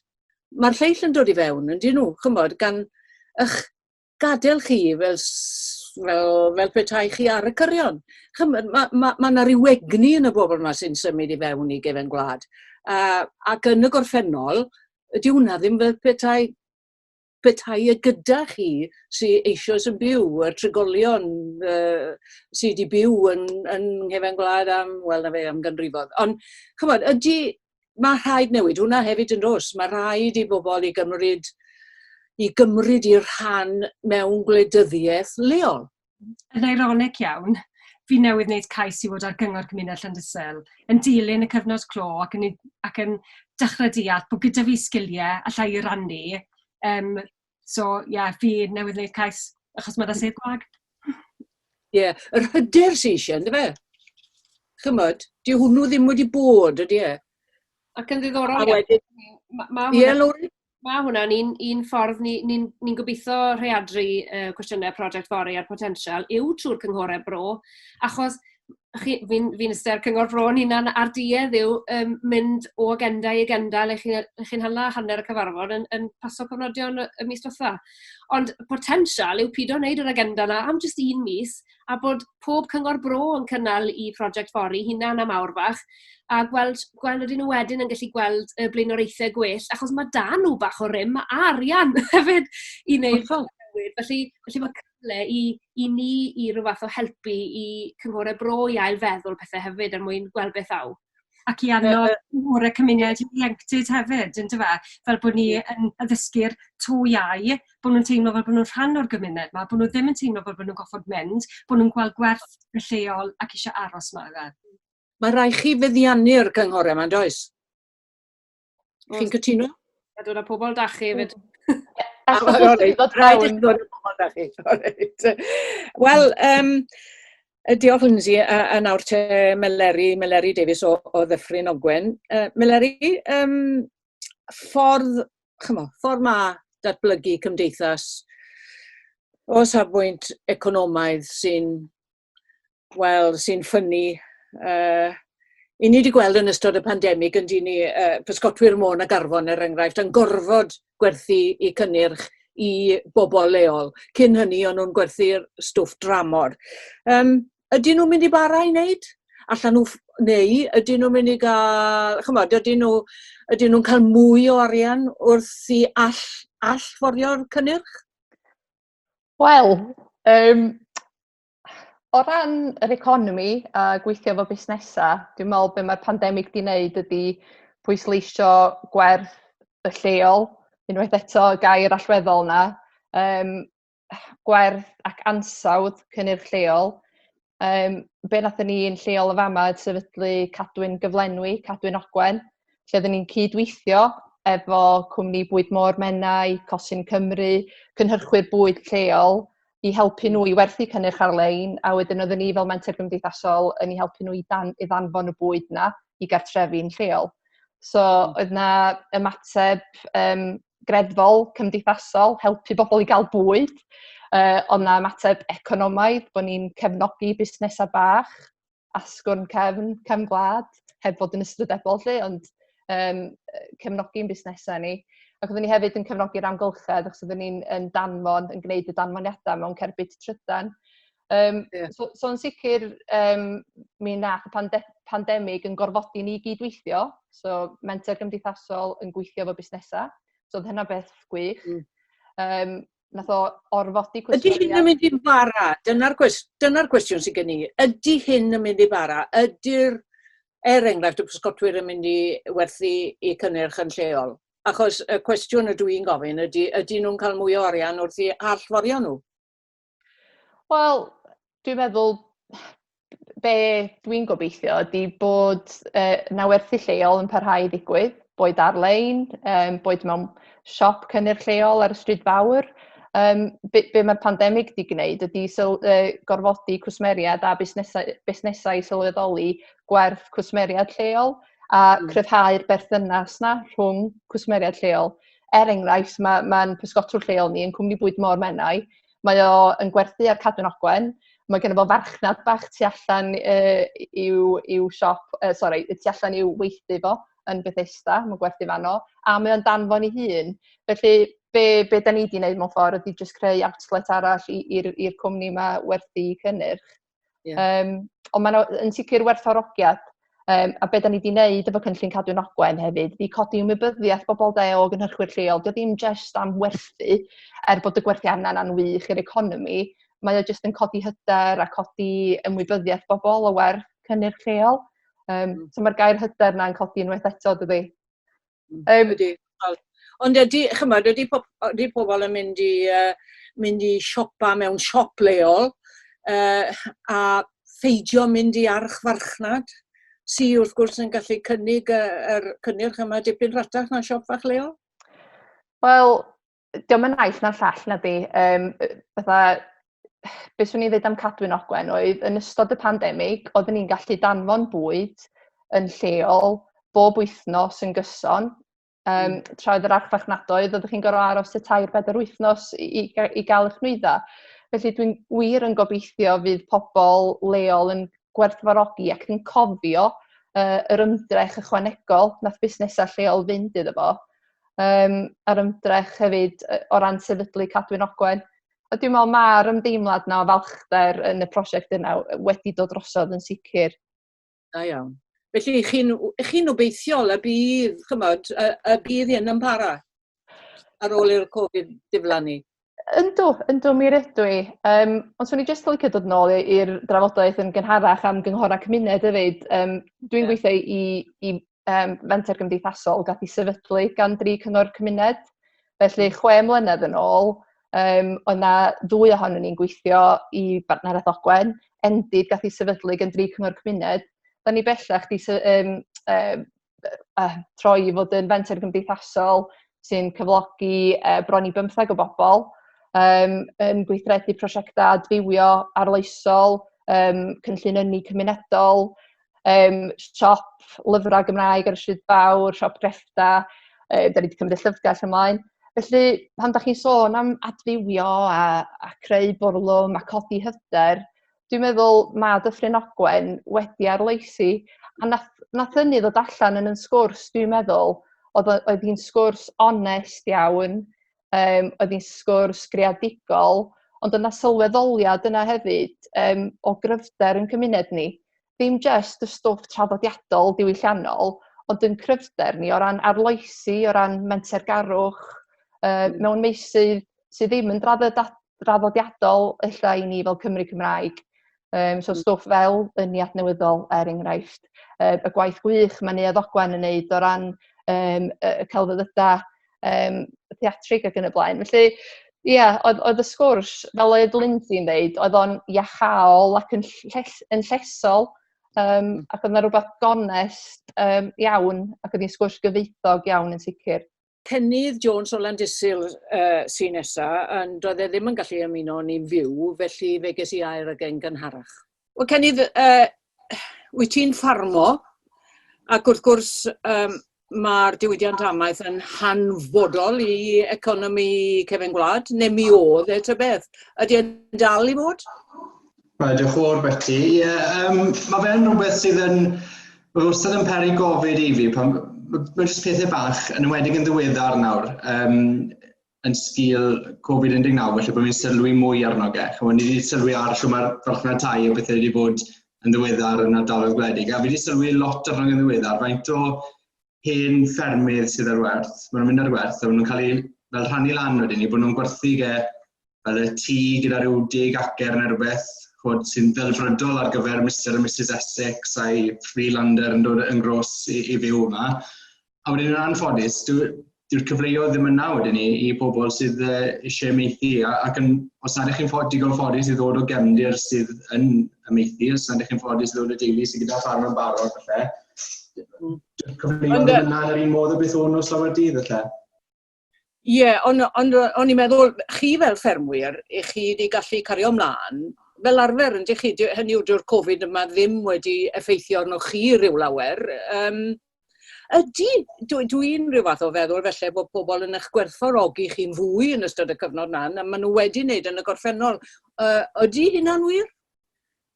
Speaker 1: ma'r lleill yn dod i fewn yndyn nhw ch'mod gan 'ych gadel chi fel s- fel fel petai chi ar y cyrion. Ch'mod ma' ma' ma' 'na ryw egni yn y bobol 'ma sy'n symud i fewn i gefen gwlad a ac yn y gorffennol dyw wnna ddim fel petai petai e gyda chi sy eisoes yn byw, y trigolion uh, sydd wedi byw yn, yn nghefen gwlad am, wel na fe, am ganrifodd. Ond, chymod, ydy, mae rhaid newid hwnna hefyd yn dos. Mae rhaid i bobl i gymryd i gymryd i'r rhan mewn gwleidyddiaeth leol. yn eironig iawn, fi newydd wneud cais i fod ar Gyngor Cymuned Llandysel, yn dilyn y cyfnod clo ac yn i- ac yn dechrau deall bod gyda fi sgiliau alla i rannu. Yym, so ie, fi newydd wneud cais achos ma' 'da sedd gwag. Ie, yr hyder sy isie on'd yfe? Ch'mod, dyw hwnnw ddim wedi bod, ydi e? Ac yn A ddiddorol iawn, wedyn, ma' ma' ie, hwnna Lowri? Mae hwnna'n un, un ffordd ni ni'n ni'n gobeithio rhaeadru yy cwestiynau project fory a'r potensial yw trwy'r cynghorau bro, achos chi... fi'n fi'n iste ar cyngor bro 'yn hunan a'r duedd yw yym mynd o agenda i agenda le chi le chi'n hala hanner y cyfarfod yn yn paso cofnodion y y mis diwetha'. Ond potensial yw pido wneud yr agenda 'na am jyst un mis, a bod pob cyngor bro yn cynnal eu prosiect fory'u hunain am awr fach, a gweld, gweld ydyn nhw wedyn yn gallu gweld y blaenoriaethau gwell, achos mae da nhw bach o rym a arian hefyd i wneud Hollol. newid. Felly, felly mae cyfle i, i ni i rhyw fath o helpu i cynghorau bro i ail feddwl pethau hefyd er mwyn gweld beth aw. ac i annog mwy o cymuned ieuenctid hefyd, yndyfe? Fel bod ni yn addysgu'r to iau, bod nhw'n teimlo fel bod nhw'n rhan o'r gymuned 'ma, bod nhw ddim yn teimlo fel bod nhw'n gorfod mynd, bod nhw'n gweld gwerth y lleol ac eisiau aros 'ma, ife? Mae rhaid chi feddiannu'r cynghorau 'ma, yn does? Chi'n cytuno? A dod â pobl da chi hefyd. Wel, um, diolch Lindsay, a, a nawr te Meleri, Meleri Davies o, o Ddyffryn Ogwen. Uh, Meleri, um, ffordd, chymo, ffordd ma datblygu cymdeithas o safbwynt economaidd sy'n wel sy'n ffynnu yy i ni wedi gweld yn ystod y pandemig yn dyn ni uh, pysgotwyr môn ag arfon er enghraifft yn gorfod gwerthu i cynnyrch i bobl leol. Cyn hynny o'n nhw'n gwerthu'r stwff dramor. Um, ydyn nhw'n mynd i bara i wneud? Allan nhw neu ydyn nhw'n mynd i gael, chymod, ydyn nhw, ydyn nhw'n cael mwy o arian wrth i all, all forio'r cynnyrch? Wel, um, o ran yr economi a gweithio efo busnesau, dwi'n meddwl be mae'r pandemig di wneud ydy pwysleisio gwerth y lleol, unwaith eto gair allweddol yna, um, gwerth ac ansawdd cynnyrch lleol. Yym be wnaethon ni yn lleol yn fama oedd sefydlu Cadwyn Gyflenwi, Cadwyn Ogwen, lle oedden ni'n cydweithio efo cwmni Bwyd Môr Menai, Cosyn Cymru, cynhyrchwyr bwyd lleol, i helpu nhw i werthu cynnyrch ar-lein, a wedyn oedden ni fel menter gymdeithasol yn eu helpu nhw i dan- i ddanfon y bwyd 'na. i gartrefi'n lleol. So oedd 'na ymateb yym greddfol, cymdeithasol, helpu bobl i gael bwyd, yy oedd 'na ymateb economaidd, bod ni'n cefnogi busnesau bach, asgwrn cefn, cefn gwlad, heb fod yn ystrydebol 'lly, ond yym cefnogi'n busnesau ni. Ac oedden ni hefyd yn cefnogi'r amgylchedd, achos oedden ni'n yn danfon, yn gwneud y danfoniadau mewn cerbyd trydan. Um, yeah. so, so yn sicr, um, mi nath y pande pandemig yn gorfodi ni gydweithio. So, menter gymdeithasol yn gweithio fo busnesau. So, oedd hynna beth gwych. Mm. Um, nath o orfodi cwestiwn... Ydy hyn yn mynd i'n fara? Dyna'r dyna gwestiwn sy'n gen i. Ydy hyn yn mynd i fara? Ydy'r, er enghraifft, y pysgotwyr yn mynd i werthu i cynnyrch yn lleol? Achos y cwestiwn y dwi'n gofyn ydy, ydy nhw'n cael mwy o arian wrth i allforio nhw? Wel dwi'n meddwl be dwi'n gobeithio ydi bod yy na werthu lleol yn parhau i ddigwydd boed ar-lein yym boed mewn siop cynnyrch lleol ar y stryd fawr yym be' be' ma'r pandemic 'di gneud ydi syl- yy gorfodi cwsmeriaid a busnesau busnesau i sylweddoli gwerth cwsmeriaid lleol a cryfhau'r berthynas 'na rhwng cwsmeriaid lleol er enghraifft ma' ma'n pysgotwr lleol ni yn cwmni bwyd Môr Menai Mae o yn gwerthu ar Cadwyn Ogwen. Mae ganddo fo farchnad bach tu allan yy i'w i'w siop, yy sori, y tu allan i'w weithdy fo yn Bethesda, mae'n gwerthu fanno, a mae o'n danfon ei hun. Felly be be dan ni 'di wneud mewn ffordd ydy jyst creu outlet arall i i'r i'r cwmni 'ma werthu cynnyrch. Yeah. Um, ond mae'n yn sicr werthorogiad. Um, a beth da ni wedi wneud efo cynllun cadw'n ogwen hefyd, fi codi ymwybyddiaeth bobl da o gynhyrchwyr lleol. Dio ddim jyst am werthu, er bod y gwerthu arna yna'n wych i'r economi, mae o jyst yn codi hyder a codi ymwybyddiaeth bobl o werth cynnyrch lleol. Um, so mae'r gair hyder yna'n codi unwaith eto, dydy? Um, ydy. Ond ydy, chymod, ydy, pob, ydy pobl yn mynd i, uh, mynd i siopa mewn siop leol uh, a pheidio mynd i archfarchnad sy wrth gwrs yn gallu cynnig yr er cynnyrch yma dipyn rhatach na siop fach leol? Wel, diom yn naill na'r llall na di. Um, fatha, beth swn i'n dweud am Cadwyn Ogwen oedd yn ystod y pandemig, oedden ni'n gallu danfon bwyd yn lleol bob wythnos yn gyson, um, mm. tra oedd yr archfarchnadoedd, oeddech chi'n gorau aros y tair bedair wythnos i, i, i gael eich nwyddau. Felly dwi'n wir yn gobeithio fydd pobl leol yn gwerthfarogi ac yn cofio uh, yr ymdrech ychwanegol nath busnesau lleol fynd iddo fo yym a'r ymdrech hefyd yy o ran sefydlu Cadwyn Ogwen. A dwi'n meddwl ma'r ymdeimlad 'na o falchder yn y prosiect yna w- wedi dod drosodd yn sicr. Da iawn. Felly chi'n w- chi'n obeithiol y bydd, ch'mod, y y bydd hyn yn para ar ôl i'r Covid diflannu? Yndw, yndw, mi rydw i. Yym, ond 'swn i jyst yn licio dod nôl i i'r drafodaeth yn gynharach am gynghorau cymuned hefyd. Yym, dwi'n Ie. gweithio i i um, fenter gymdeithasol gath ei sefydlu gan dri cyngor cymuned. Felly, hmm. chwe mlynedd yn ôl, um, oedd na ddwy ohonyn ni'n gweithio i Bartneraeth Ogwen, endid gath ei sefydlu gan dri cyngor cymuned. Da ni bellach di um, um, uh, troi i fod yn fenter gymdeithasol sy'n cyflogi uh, bron i bymtheg o bobl um, yn gweithredu prosiectau adfywio arloesol, um, cynllun ynni cymunedol, um, siop lyfrau Gymraeg ar y Stryd Fawr, siop greffta, um, da ni wedi cymryd y llyfrgell ymlaen. Felly, pan da chi'n sôn am adfywio a, a creu bwrlwm a codi hyder, dwi'n meddwl mae Dyffryn Ogwen wedi arloesi. A nath, nath hynny ddod allan yn yn sgwrs, dwi'n meddwl, oedd, oedd hi'n sgwrs onest iawn, yym oedd hi'n sgwrs greadigol, ond oedd 'na sylweddoliad yna hefyd yym o gryfder ein cymuned ni. Dim jyst y stwff traddodiadol diwylliannol, ond ein cryfder ni o ran arloesi, o ran mentergarwch yy mewn meysydd sydd ddim yn draddodiadol. draddodiadol ella i ni fel Cymry Cymraeg. Um, so mm. stwff fel yn ni adnewyddol er enghraifft. Uh, y gwaith gwych mae Neuadd Ogwen yn neud o ran um, y celfyddydau um, theatrig ac yn y blaen. Felly, ie, yeah, oedd, oedd y sgwrs, fel oedd Lindsay'n ddeud, oedd o'n iachol ac yn, lles, yn llesol, um, ac oedd yna rhywbeth gonest um, iawn, ac oedd hi'n sgwrs gyfeithog iawn yn sicr. Cennydd Jones o Landysul uh, sy'n nesa, ond doedd e ddim yn gallu ymuno ni'n fyw, felly fe ges i air ag e'n gynharach. Wel, Cennydd, uh, wyt ti'n ffarmo, ac wrth gwrs, um, mae'r diwydiant amaeth yn hanfodol i economi cefn gwlad, neu mi oedd e ta beth. Ydy e'n dal i fod? Mae diolch o'r beti. Ie, yeah, um, mae fe'n rhywbeth sydd yn... Mae wastad yn peri gofyd i fi, pan mae jyst pethau bach, yn ymwedig yn ddiweddar nawr, um, yn sgil Covid-19, felly bod ni'n sylwi mwy arno ge. Chymod, ni wedi sylwi ar lle mae'r farchnad tai a bethau wedi bod yn ddiweddar yn ardaloedd gwledig, a fi wedi sylwi lot arno yn ddiweddar, faint o hen ffermydd sydd ar werth, maen nhw'n mynd ar werth a maen nhw'n cael eu fel rhannu lan wedyn ni, bod nhw'n gwerthu ge fel y tŷ gyda rhyw deg acer neu rhywbeth, chod, sy'n ddelfrydol ar gyfer Mr a Mrs Essex a'i freelander yn dod yn gros i, i fyw yma. A wedyn yn anffodus, dyw'r dwi cyfleoedd ddim yna wedyn ni i pobl sydd uh, eisiau meithi, ac yn, os nad ych chi'n ffod, digon ffodus i ddod o gefndir sydd yn y meithi, os nad ych chi'n ffodus i ddod o deulu sydd gyda ffarm yn barod, felly, cyflwyno dy hynna ar un modd o beth o'n nos lawer dydd lle? Ie, yeah, ond on, on, on i'n meddwl, chi fel ffermwyr, i chi wedi gallu cario ymlaen, fel arfer yn chi, hynny yw dyw'r Covid yma ddim wedi effeithio arno chi rhyw lawer. Um, ydy, dwi'n dwi, dwi rhyw fath o feddwl felly bod pobl yn eich gwerthfawrogi chi'n fwy yn ystod y cyfnod yna, a maen nhw wedi wneud yn y gorffennol. Uh, ydy hynna'n wir?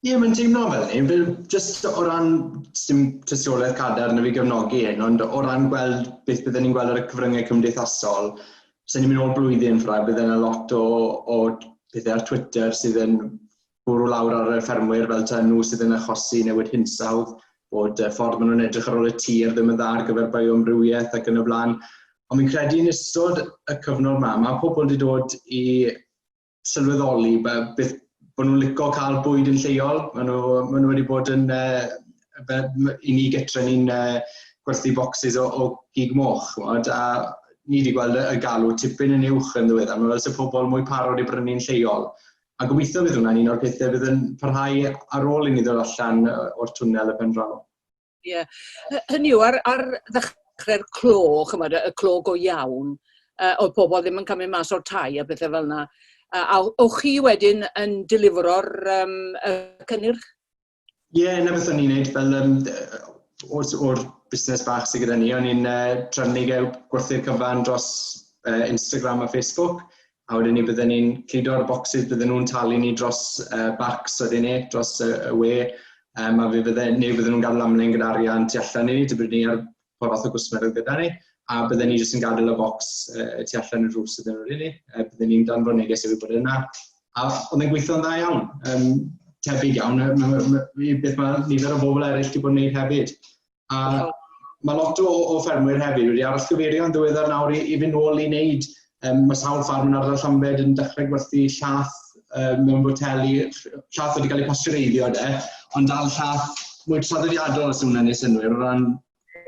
Speaker 1: Ie, mae'n teimlo fel ni. Fel, just o ran, dim tystiolaeth cadar na fi gefnogi hyn, ond o ran gweld beth byddwn ni'n gweld ar y cyfryngau cymdeithasol, sy'n ni'n mynd o'r blwyddyn ffrau, bydd yna lot o, o pethau ar Twitter sydd yn bwrw lawr ar y ffermwyr fel ta nhw sydd yn achosi newid hinsawdd, bod y ffordd maen nhw'n edrych ar ôl y tir ddim yn dda ar gyfer bioamrywiaeth ac yn y blaen. Ond fi'n credu yn ystod y cyfnod yma, mae pobl wedi dod i sylweddoli beth bod nhw'n licio cael bwyd yn lleol. Maen nhw, ma nhw wedi bod yn, uh, i ni gytre ni'n uh, gwerthu bocsys o, o gig moch, mod, a ni wedi gweld y galw tipyn yn uwch yn ddiweddar. Mae fel sy'n pobl mwy parod i brynu'n lleol. A gobeithio bydd hwnna'n un o'r pethau bydd yn parhau ar ôl i ni ddod allan o'r twnnel y pen draw. Ie. Hy- hynny yw ar ar ddechre'r clo ch'mod y y clo go iawn yy o'dd pobol ddim yn cymryd mas o'r tai a pethe fel 'na. A a o- o'ch chi wedyn yn delifro'r yym y cynnyrch? Ie, 'na beth o'n i'n neud fel yym d- yy o'r o'r busnes bach sy gyda ni, o'n i'n yy trefnu gwerthu'r cyfan dros yy Instagram a Facebook, a wedyn ni bydden ni'n cludo ar y bocsys, bydden nhw'n talu ni dros uh, bacs wedyn ni, dros y, y we, um, a fe bydden, neu bydden nhw'n gadael amlen gyda arian tu allan i ni, dybyd ni ar pa fath o gwsmer oedd gyda ni, a bydden ni jyst yn gadael y bocs uh, tu allan y rhws ydyn nhw'n ni, uh, bydden ni'n dan fy neges efo bod yna. A oedd e'n gweithio'n dda iawn, um, tebyg iawn, beth mae nifer o bobl eraill wedi bod yn gwneud hefyd. A mae lot o, o ffermwyr hefyd wedi aros cyfeirio yn ddiweddar nawr i, i fynd nôl i wneud. Um, mae sawl ffarm yn ardal Llambed yn dechrau gwerthu llath um, mewn boteli, llath wedi cael ei pastureiddio de, ond dal llath mwy traddodiadol os yw'n ennill synwyr o ran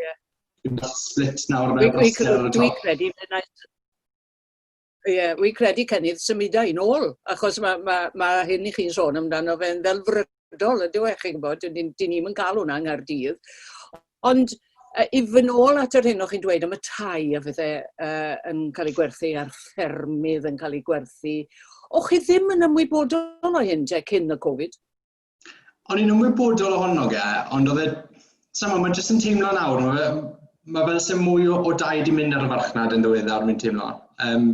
Speaker 1: yeah. split nawr mewn broster. Dwi'n credu, Ie, yeah, wi'n credu cynnydd symudau yn ôl, achos mae ma, ma hyn i chi'n sôn amdano fe'n ddelfrydol, ydyw e, chi'n gwybod, dyn ni'n ni yn cael hwnna yng Nghaerdydd. Ond uh, i fy nôl at yr hyn o'ch chi'n dweud am y tai a fydde uh, yn cael ei gwerthu a'r ffermydd yn cael ei gwerthu, o'ch chi ddim yn ymwybodol o hyn te cyn y Covid? o'n i'n ymwybodol ohono ge, ond oedd e, sa'm ond, mae jyst yn teimlo nawr, mae fe, mae fel sy'n mwy o, o dau di mynd ar y farchnad yn ddiweddar, mae'n teimlo. Um,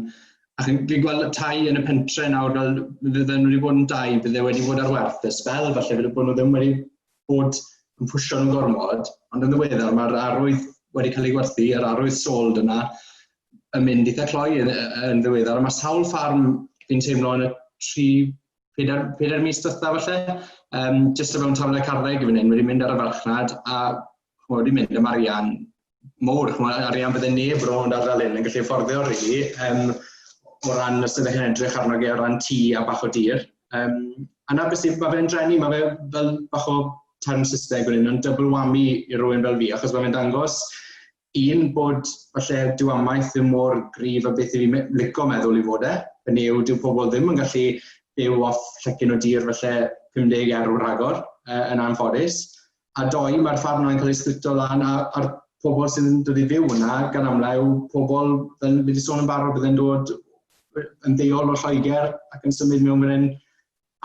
Speaker 1: a chi'n fi gweld y tai yn y pentre nawr, fel fydden nhw wedi bod yn dau, bydde wedi bod ar werth y spel, falle fydde bod nhw ddim wedi bod yn pwysio nhw'n gormod, ond yn ddiweddar mae'r arwydd wedi cael ei gwerthu, yr arwydd sold yna, yn mynd eitha cloi yn, yn ddiweddar, a mae sawl ffarm fi'n teimlo yn y tri pedair, pedair mis dytha falle, um, jyst o fewn tafod y carddeg i fan hyn, wedi mynd ar y farchnad a chmod, wedi mynd am arian mowr, chmod, arian bydde neb rownd ar fel hyn yn gallu fforddio rili, really, um, o ran os ydych chi'n edrych arno ge o ran tŷ a bach o dir. Um, a na beth sy'n, mae fe'n drenu, mae fe fel bach o term Saesneg wedyn, yn double whammy i rywun fel fi, achos mae fe'n dangos Un, bod falle dyw amaeth ddim mor gryf a beth i fi lico meddwl i fod e, yn yw dyw pobl ddim yn gallu byw off llecyn o dir falle 50 erw rhagor uh, yn anffodus. A doi, mae'r ffarm yna'n cael ei splito lan a, a'r pobl sy'n dod i fyw yna gan amlau yw pobl, fel wedi sôn yn barod, bydd yn dod yn ddeol o Lloegr ac yn symud mewn fan hyn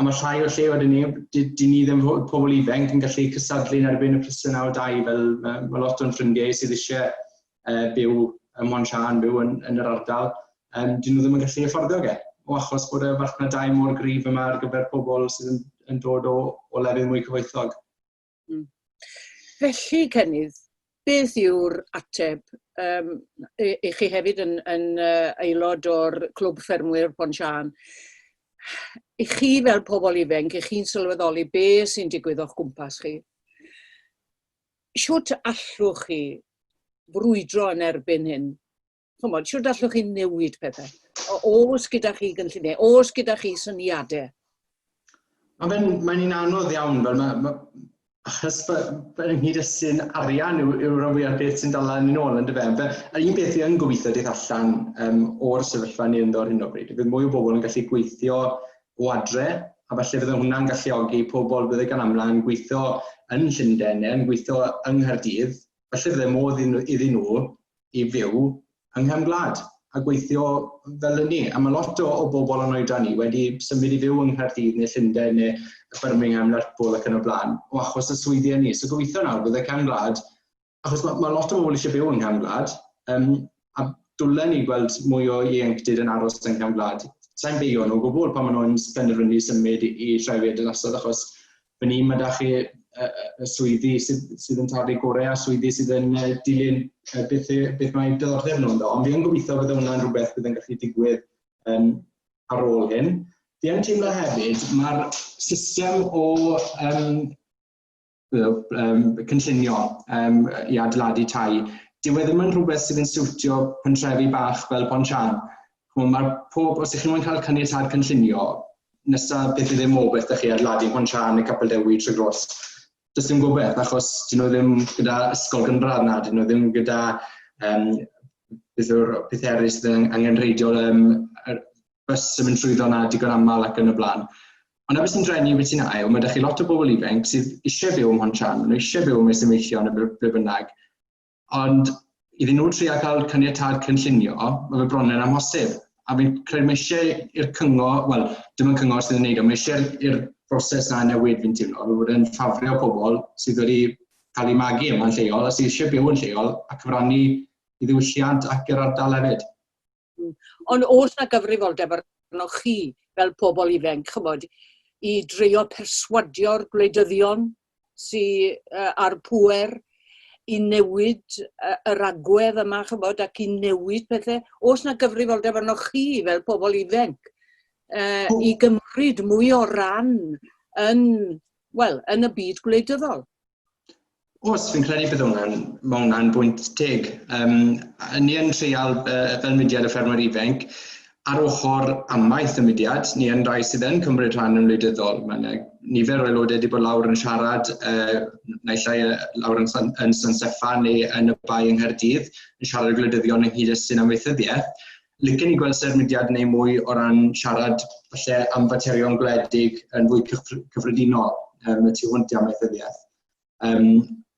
Speaker 1: A mae llai o lleoedd i neb, dyn ni ddim fod pobl ifanc yn gallu cysadlu yn erbyn y prisiwn awr dau, fel mae, mae lot o'n ffrindiau sydd eisiau uh, byw yn Mwan Sian, byw yn, yn yr ardal, um, dyn nhw ddim yn gallu affordio ge, o achos bod y farchnadau mor gryf yma ar gyfer pobl sydd yn, yn dod o, o lefydd mwy cyfoethog. Mm. Felly, Cenydd, beth yw'r ateb? Um, i, i chi hefyd yn, yn uh, aelod o'r Clwb Ffermwyr Pon Sian. I chi fel pobl ifanc, i chi'n sylweddoli be sy'n digwydd o'ch gwmpas chi, siwt allwch chi frwydro yn erbyn hyn? chymod, siwr allwch chi newid pethau? Os gyda chi gynlluniau, os gyda chi syniadau? Mae fe'n mae un anodd iawn, fel mae, mae achos fel yng nghyd sy'n arian yw, yw rhan fwyaf beth sy'n dal yn ôl yn dy fe. Yr un beth yn gobeithio dydd allan um, o'r sefyllfa ni ynddo ar hyn o bryd, bydd mwy o bobl yn gallu gweithio o adre, a falle fydde hwnna'n galluogi pobl bydde gan amla yn gweithio yn Llundain neu yn gweithio yng Nghaerdydd, falle fydde modd iddyn nhw i fyw yng nghefn gwlad a gweithio fel hynny. A mae lot o, o bobl yn oedran ni wedi symud i fyw yng Nghaerdydd neu Llundain neu Birmingham, Lerpwl ac yn y blaen, o achos y swyddi ni. So gobeithio nawr bydd y cefn gwlad, achos mae, mae lot o bobl eisiau byw yng nghefn gwlad, um, a dwlen ni gweld mwy o ieuenctid yn aros yn cam gwlad. Sa'n beio nhw o gwbl pan maen nhw'n penderfynu symud i, i trefyd yn asod achos fan hyn mae da chi y swyddi sydd yn tarfu gorau a swyddi sydd yn dilyn beth, beth mae diddordeb nhw ynddo. Ond fi yn gobeithio bod hwnna'n rhywbeth bydd yn gallu digwydd um, ar ôl hyn. Fi yn teimlo hefyd, mae'r system o um, um, cynllunio um, i adeiladu tai, dyw e ddim yn rhywbeth sydd yn siwtio pentrefi bach fel Pontchan. Ch'mo' ma'r pob... Os 'ych chi'n moyn cael caniatâd cynllunio, nesa peth i ddim o beth 'da chi ar Ladi Pont Siân neu Capel Dewi trwy Gros, does dim gobeth achos 'dyn nhw ddim gyda ysgol gynradd na 'dyn nhw ddim gyda yym beth yw'r pethe eryll sydd yn angenrheidiol yym yr bys yn mynd trwyddo 'na digon aml ac yn y blaen. Ond na beth sy'n drueni beth sy'n ail, ma' 'da chi lot o bobl ifanc sydd isie byw ym Mhont Siân, ma' nhw isie byw yn Maes y Meillion neu ble bynnag, Ond iddyn nhw trio cael caniatâd cynllunio, mae fe bron yn amhosib. A fi'n credu mae eisiau i'r cyngor, wel, dim ond cyngor sydd yn neud o, mae eisiau i'r broses na newid fi'n teimlo, fe bod e'n ffafrio pobl sydd wedi cael eu magu yma'n lleol a sydd eisiau byw yn lleol a cyfrannu i ddiwylliant ac yr ardal hefyd. Ond oes 'na gyfrifoldeb arnoch chi fel pobl ifanc, ch'mod, i dreio perswadio'r gwleidyddion sy yy a'r pŵer i newid yy yr agwedd yma ch'mod ac i newid pethe? Oes 'na gyfrifoldeb arnoch chi fel pobl ifanc yy i gymryd mwy o ran yn, wel, yn y byd gwleidyddol? Os, fi'n credu bydd hwnna'n, mae hwnna'n bwynt teg. Um, ni yn treial uh, fel mudiad y ffermwyr ifanc, ar ochr amaeth y mudiad, ni yn rhai sydd yn cymryd rhan yn wleidyddol. Mae yna nifer o aelodau wedi bod lawr yn siarad, uh, naill ai lawr yn, San, yn San Steffan neu yn y bai yng Nghaerdydd, yn siarad y gwleidyddion ynghyd â sy'n amaethyddiaeth. Licen i gweld sef mudiad neu mwy o ran siarad falle am faterion gwledig yn fwy cyffredinol um, y tu hwnt i amaethyddiaeth. Um,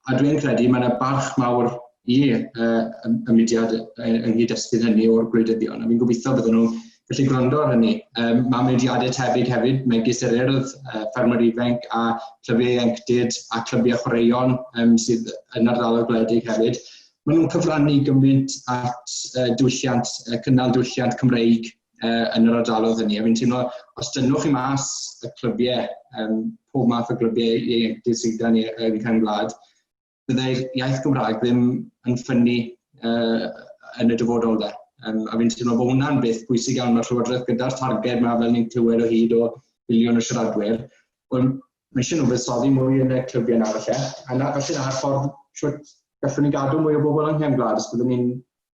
Speaker 1: a dwi'n credu mae yna barch mawr i uh, y mudiad yng nghyd-destun hynny o'r gwleidyddion, a fi'n gobeithio bydden nhw'n gallu gwrando ar hynny. Um, mae mudiadau tebyg hefyd, megis yr urdd, uh, ffermwyr ifanc a clybiau ieuenctid a clybiau chwaraeon um, sydd yn ardaloedd gwledig hefyd, Maen nhw'n cyfrannu gymaint at uh, diwylliant, uh, cynnal diwylliant Cymreig uh, yn yr ardalodd hynny. A fi'n teimlo, os dynwch chi mas y clybiau, um, pob math o glybiau ieuenctid sydd gan i'r uh, Cymru Gwlad, byddai'r iaith Gymraeg ddim yn ffynnu uh, yn y dyfodol dda. Um, a fi'n teimlo bod hwnna'n beth bwysig iawn mae'r Llywodraeth gyda'r targed mae fel ni'n clywed o hyd o filiwn o siaradwyr. Ond Mae eisiau nhw fuddsoddi mwy yn y clybiau yna falle, a na, falle na'r ffordd shwt gallwn ni gadw mwy o bobl yng nghefn gwlad, os byddwn ni'n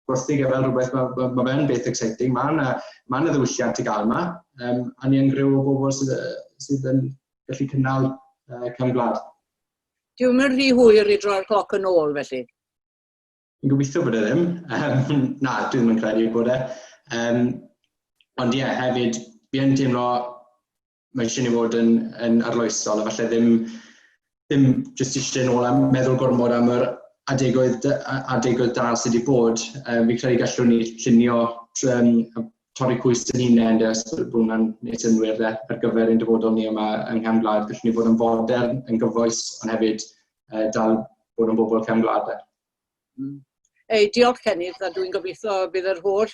Speaker 1: gwerthu gyfer rhywbeth, mae ma, ma fe'n beth exciting, mae yna, ma yna ddiwylliant i gael yma, um, a ni yn grew o bobl sydd, sydd yn gallu cynnal uh, cefn gwlad. Dwi'n mynd rhy hwyr i droi'r cloc yn ôl felly. Dwi'n gobeithio bod e ddim. Um, na, dwi ddim yn credu bod e. Um, ond ie, yeah, hefyd, fi yn teimlo mae eisiau ni fod yn, yn arloesol a falle ddim, ddim jyst eisiau nôl am meddwl gormod am yr adegoedd, adegoedd da sydd wedi bod. Um, fi credu gallwn ni llunio um, torri cwys yn hunain, de, os bod hwnna'n neud synwyr de, ar gyfer ein dyfodol ni yma yng Nghefn Gwlad. Gallwn ni fod yn fodern, yn gyfoes, ond hefyd uh, dal bod yn bobl Cefn Gwlad. De. Mm. Ei, diolch Cenydd, a dwi'n gobeithio bydd yr holl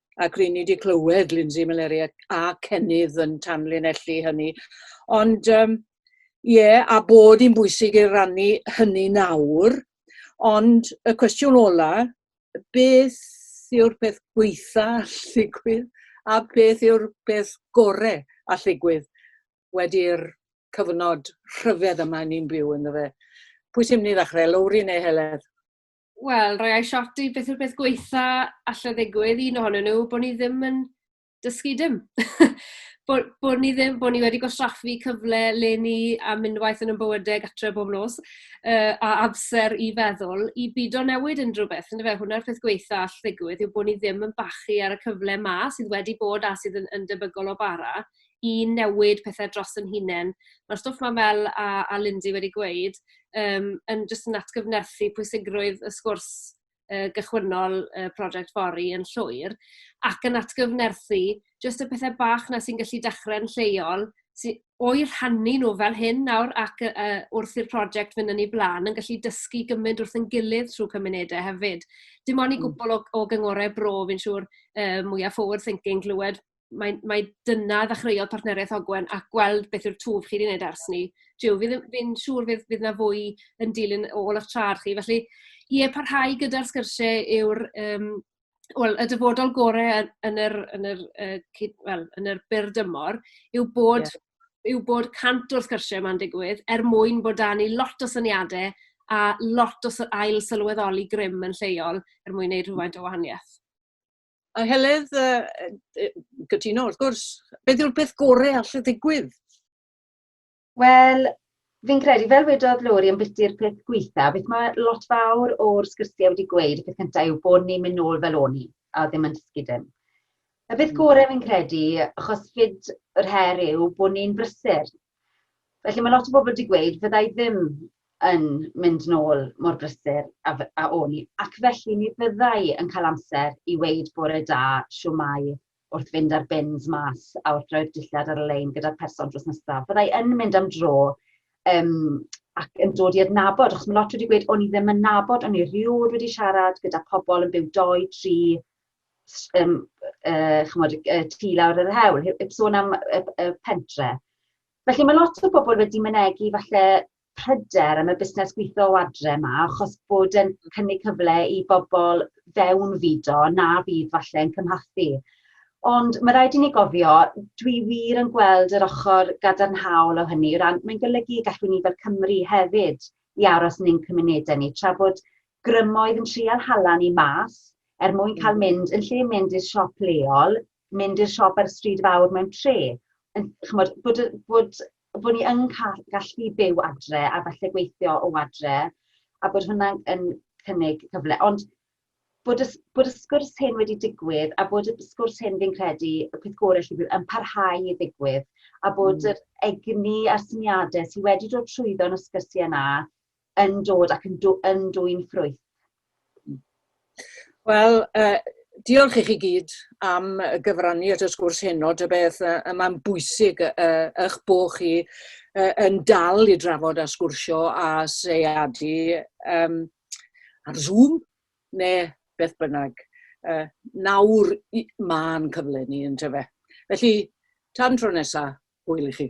Speaker 1: ac ry'n ni wedi clywed Lindsay Malaria a Cennydd yn tanlinellu hynny. Ond um, ie, yeah, a bod hi'n bwysig i rannu hynny nawr, ond y cwestiwn ola, beth yw'r peth gweitha alligwydd a beth yw'r peth gorau alligwydd wedi'r cyfnod rhyfedd yma ni'n byw yn fe. Pwy sy'n mynd i ddechrau, Lowri neu Heledd? Wel, rhoi ai shot i beth yw'r peth gweitha allai ddigwydd, un ohonyn nhw, bod ni ddim yn dysgu dim. bod, bod ni ddim, bod ni wedi gwastraffu cyfle le ni a mynd waith yn ymbywydeg atre bob nos, uh, a amser i feddwl, i byd o newid unrhyw beth. Yn fe, hwnna'r peth gweitha all ddigwydd yw bod ni ddim yn bachu ar y cyfle ma sydd wedi bod a sydd yn, yn debygol o bara i newid pethe dros yn hunen. Ma'r stwff 'ma fel a a Lindsey wedi gweud yym yn jyst yn atgyfnerthu pwysigrwydd y sgwrs yy gychwynnol y project fory yn llwyr ac yn atgyfnerthu jyst y pethe bach 'na sy'n gallu dechre'n lleol sy o'u rhannu nhw fel hyn nawr ac yy yy wrth i'r project fynd yn ei blaen yn gallu dysgu gymaint wrth ein gilydd trwy cymunedau hefyd. Dim ond i hmm. gwbl o o gyngorau bro fi'n siŵr yy mwya forward thinking glywed mae mae dyna ddechreuodd partneriaeth Ogwen a gweld beth yw'r twf chi 'di wneud ers 'ny. Jiw, fi ddim... fi'n siŵr fydd fydd 'na fwy yn dilyn ôl eich traed chi. Felly, ie, parhau gyda'r sgyrsiau yw'r yym wel, y dyfodol gorau yn yn yr yn yr yy cyd- wel, yn yr byr dymor yw bod... ie. ...yw bod cant o'r sgyrsiau yma'n digwydd er mwyn bod 'da ni lot o syniadau a lot o sy- ail sylweddoli grym yn lleol er mwyn wneud rhywfaint o wahaniaeth. A Heledd, yy cytuno wrth gwrs. Beth yw'r peth gorau all y ddigwydd? Wel, fi'n credu, fel wedodd Lori yn biti'r peth gweitha, beth mae lot fawr o'r sgyrsiau wedi gweud, y peth cyntaf yw bod ni'n mynd nôl fel o'n i, a ddim yn dysgu dim. Y peth hmm. gorau fi'n credu, achos fyd yr her yw bod ni'n brysur, Felly mae lot o bobl wedi gweud, fydda i ddim yn mynd nôl mor brysur a, a o'n i, ac felly mi fydda i yn cael amser i weid bore da, siwmai, wrth fynd ar bins mas a wrth roi'r dillad ar y lein gyda'r person drws nesaf. Fydda i yn mynd am dro um, ac yn dod i adnabod, achos mae lot wedi gweud, o'n i ddim yn nabod, o'n i rioed wedi siarad gyda pobl yn byw doi, tri, s- yym yy ch'mod y y tŷ lawr yn yr hewl he- heb sôn am y p- y pentre. Felly ma' lot o bobol wedi mynegi falle pryder am y busnes gwitho o adre 'ma achos bod e'n cynnig cyfle i bobol fewnfudo na fydd falle'n cymhathu. Ond ma' raid i ni gofio, dwi wir yn gweld yr ochor gadarnhaol o hynny o ran mae'n golygu y gallwn ni fel Cymry hefyd i aros yn ein cymunede ni tra bod grymoedd yn trial hala ni mas er mwyn cael mynd, yn lle mynd i'r siop leol, mynd i'r siop ar y stryd fawr mewn tre. Yn, chymod, bod, bod, bod ni yn cael, gallu byw adre a falle gweithio o adre, a bod hwnna'n yn cynnig cyfle. Ond bod y, bod y sgwrs hyn wedi digwydd, a bod y sgwrs hyn fi'n credu, y peth gorau lle bydd yn parhau i ddigwydd, a bod mm. yr egni a'r syniadau sydd wedi dod trwyddo yn y sgyrsiau yna, yn dod ac yn, dw, yn dwy'n ffrwyth. Wel, uh, diolch i chi gyd am gyfrannu at y sgwrs heno, dy beth, uh, mae'n bwysig uh, eich bod chi uh, yn dal i drafod a sgwrsio a seiadu um, ar Zoom neu beth bynnag. Uh, nawr mae'n cyfle ni yn tyfe. Felly, tan tro nesaf, hwyl i chi.